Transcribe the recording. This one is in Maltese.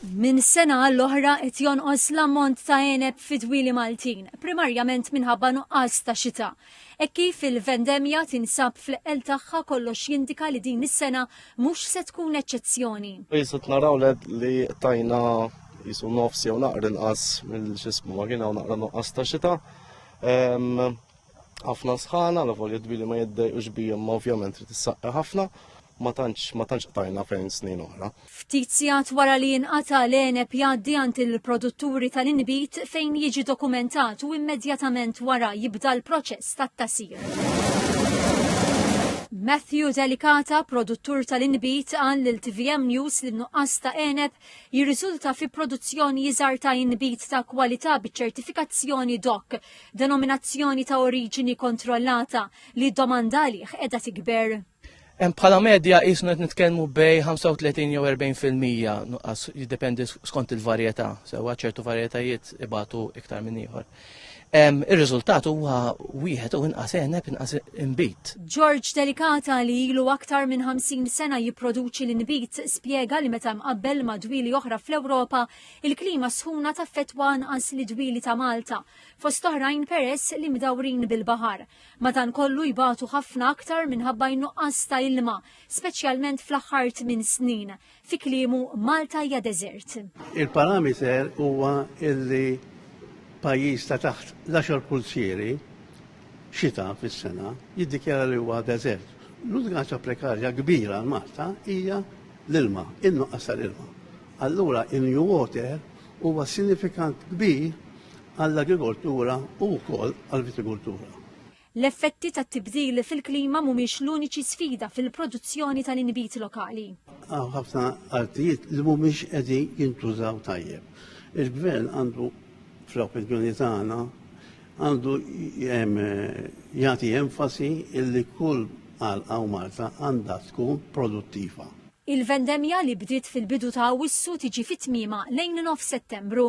Minn sena għall-oħra qed jonqos l-ammont ta' għeneb fid-dwieli Maltin, primarjament minħabba nuqqas ta' xita. Hekk kif il-vendemmja tinsab fl-eqqel tagħha kollox jindika li din is-sena mhux se tkun eċċezzjoni. Qisu qed naraw li tajna qisu nofs jew naqra inqas mill-x'ismu ma kien hawn naqra nuqqas ta' xita. ħafna sħana, la volja dbili ma jiddej u xbija ma ovvjament li tissaqqa ħafna, ma tantx ma tantx qtajna fejn snin oħra. Ftit sigħat wara li jinqata' l-għeneb jgħaddi għand il-produtturi tal-inbid fejn jiġi dokumentat u immedjatament wara jibda l-proċess tat-tasir. Matthew Delicata, produttur tal-inbit, għan l tvm News li nuqqas ta' eneb jirriżulta fi produzzjoni jizar ta' inbit ta' kwalità biċ-ċertifikazzjoni DOC denominazzjoni ta' oriġini kontrollata li d-domanda għalih qiegħda tikber. Bħala medja jisnu qed nitkellmu bej 35 jew 40 fil-mija nuqqas jiddependi skont il-varjetà, sewwa ċertu varjetajiet ibatu iktar minn ieħor. Ir-riżultat huwa wieħed u inqas eneb inqas inbit. George Delikata li ilu aktar minn 50 sena jipproduċi l-inbit spjega li meta mqabbel madwili oħra fl-Ewropa Il-klima sħuna taffettwa anqas li dwieli ta' Malta, fost oħrajn peress li mdawrin bil-baħar. Madankollu jbatu ħafna aktar minħabba n-nuqqas ta' ilma, speċjalment fl-aħħar tmien snin. Fi kliemu, Malta hija deżert. Il-parameter huwa illi pajjiż ta' taħt l-għaxar pulzieri xita fis-sena jiddikjara li huwa deżert. L-unika prekarja kbira għal Malta hija l-ilma, in-nuqqas tal-ilma. Allura in-New Water huwa sinifikant kbir għall-agrikoltura u wkoll għall-vitikultura. L-effetti tat-tibdil fil-klima mhumiex l-uniċi sfida fil-produzzjoni tal-inbid lokali. Hawn ħafna artijiet li mhumiex qegħdin jintużaw tajjeb. Il-Gvern għandu, fl-opinjoni tagħna, għandu jagħti enfasi illi kull għalqa u marta għandha tkun produttiva. Il-vendemmja li bdiet fil-bidu ta' Awwissu tiġi fi tmiemha lejn nofs Settembru.